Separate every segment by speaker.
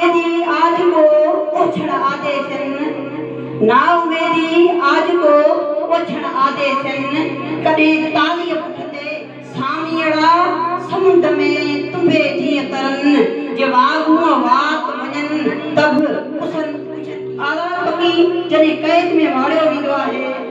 Speaker 1: اميدي آجڪو اوڇڻ آديسين، نا اميدي آجڪو اوڇڻ آديسين، ڪڏهن تاليء پٺ تي ساميئڙا سمنڊ ۾ تنبي جيئن ترن، جي واڳون وات وڃن ته به پسن. آزاد پکي جڏهن قيد ۾ واڙيو ويندو آهي.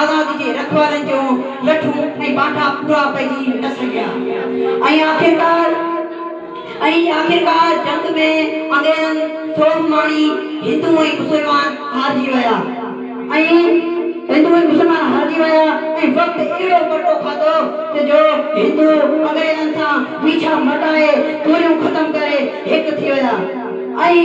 Speaker 1: آزادي جي رکوالن جون لٺون ۽ بانٺا پورا پئجي نه سگهيا ۽ آخرڪار ۽ آخرڪار جنگ ۾ انگريزن سوڀ ماڻي هندو ۽ مسلمان هارجي ويا ۽ هندو ۽ مسلمان هارجي ويا ۽ وقت اهڙو پلٽو کاڌو ته جو هندو انگريزن سان ويڇا مٽائي توريون ختم ڪري هڪ ٿي ويا. ۽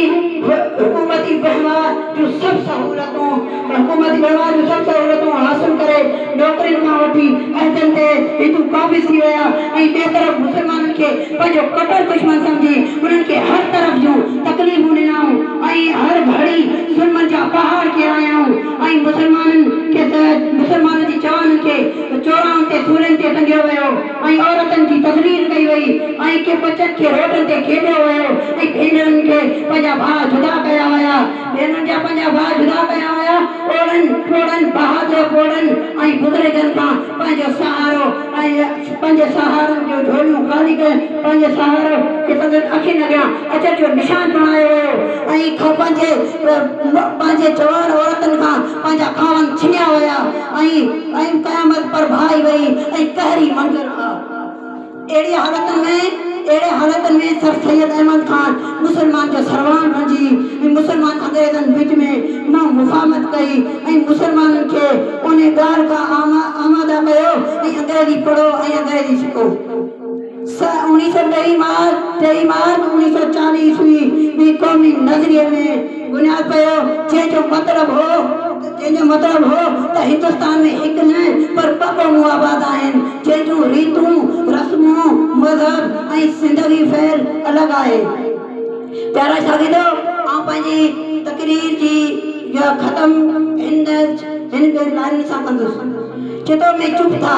Speaker 1: حڪومتي وهنوار جون سڀ سهولتون حڪومتي وهنوار جون سڀ سهولتون حاصل ڪري نوڪرين کان وٺي عهدن تي هندو قابض ٿي ويا ۽ ٻئي طرف مسلمانن کي پنهنجو ڪٽر دشمن سمجهي انهن کي هر طرف جون تڪليفون ڏنائون ۽ هر گهڙي ظلمن جا پهاڙ ڪيرايائون ۽ مسلمانن کي مسلمانن جي جوانن کي چوراهن تي سولين تي ٽنگيو ويو. ۽ عورتن جي تذليل ڪئي وئي ۽ ڪي ٻچن کي روڊن تي کيڏيو ويو ۽ ڀينرن کي پنهنجا ڀاء جدا ڪيا ويا ڀينرن جا پنهنجا ڀاء جدا ڪيا ويا اوڙن پوڙهن بهادر پوڙهن ۽ بزرگن کان پنهنجو سهارو ۽ پنهنجي سهارن جون جهوليون خالي ڪيون پنهنجو سهارو کي سندن اکين اڳيان اچر جو نشان بڻايو ويو ۽ کان پنهنجي پنهنجي جوان عورتن کان پنهنجا خاوند ڇنيا ويا ۽ ۽ قيامت پرڀائي وئي ۽ قهري منظر آ. اهڙي حالتن ۾ اهڙي حالتن ۾ سر سيد احمد خان مسلمان جو سروان بڻجي ۽ مسلمان انگريزن وچ ۾ منهن مفاهمت ڪئي ۽ مسلمانن کي انهي ڳالهه کان آماده ڪيو ۽ انگريزي پڙهو ۽ انگريزي سکو. سنه اوڻيهه سؤ ٽيهه مارچ، ٽيهه مارچ اوڻيهه سؤ چاليهه عيسوي، ۾ قومي نظريي ۾ بنياد پيو، جنهن جو مطلب هو جنهن جو مطلب هو ته هندستان ۾ هڪ نه پر ٻه قومون آباد آهن، جنهن جون ريتون، رسمون، مذهب ۽ زندگي فعل الڳ آهي. پيارا شاگردو! آئون پنهنجي تقرير جي جا ختم هن هن ٻن لائنن سان ڪندس. چتو ۾ چپ ٿا.